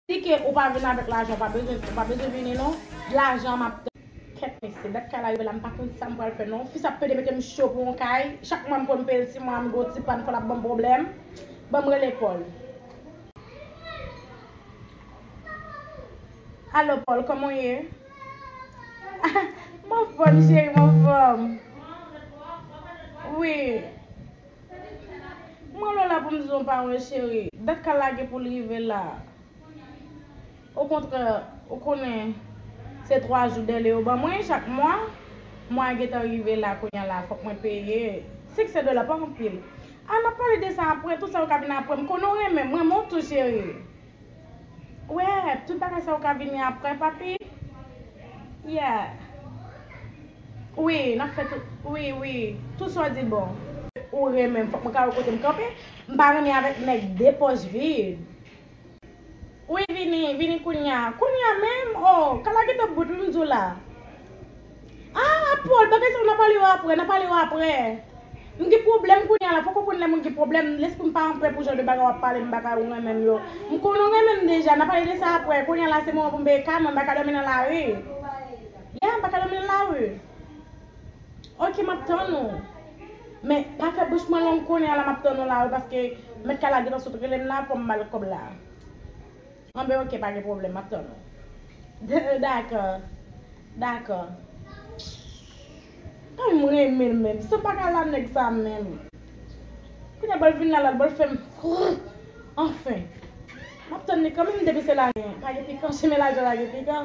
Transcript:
Si ke ou pa vin avek lajan ou pa bezwen ou pa bezwen vini non lajan map tann. Kèt mesye, dat kay la rive la m pa konn sam pral fè non, fis ap pede metem cho pou yon kay, chak mwa m konn peyel ti mwa m gwo ti pàn fol ap banm pwoblèm, banm rele Paul. Allo Paul kòman w ye? Ah m anfòm cheri m anfòm wi. M rele w la pou m di w m pa wè cheri. Dat ka lage pou l rive la. Okontrè, ou konnen, se twa jou dèle yo ban mwen chak mwa. Mwa a gentan rive la kounya la, fòk mwen peye. Senksen dola pa anpil. A n ap pale de sa apre, tout sa yo ka vin apre. M konnen w renmen m, renmen w tou cheri. Wee tout bagay sa yo ka vini aprè papi yeah wi nap fè tout wi wi tout sa w di bon. Ou renmenm fok mwen ka wè kotem kanpe m pa renmen avek neg de poch vid wi vini vini kounya kounya menm oh kal a gete bout m di w la. Ah Apòl bagay sa yo na pale yo aprè na pale yo aprè m gen pwoblèm kounya la poko konn lè moun gen pwoblèm lesprim pa anpre pou jan de bagay wap pale m bagay ou renmen m yo m konn ou renmen m deja na pale de sa aprè kounya la se moman pou m veye ka mwen m pa ka dòmi nan lari yeah m pa ka dòmi nan lari ok map tann ou men pa fè bouch mwen long kounya la map tann ou la wi paske mèt kay la gentan sot relem la fòm bal kòb la. Anben ok pa gen pwoblèm map tann ou Dakò Dakò Anmweyy m renmen l menm san m paka la nèg sa menm Kounya bòl vin la lal bòl fèm frrrr anfen Map tann li kanmenm depi se lajan pa gen pikan chimè lajan pa gen pikan.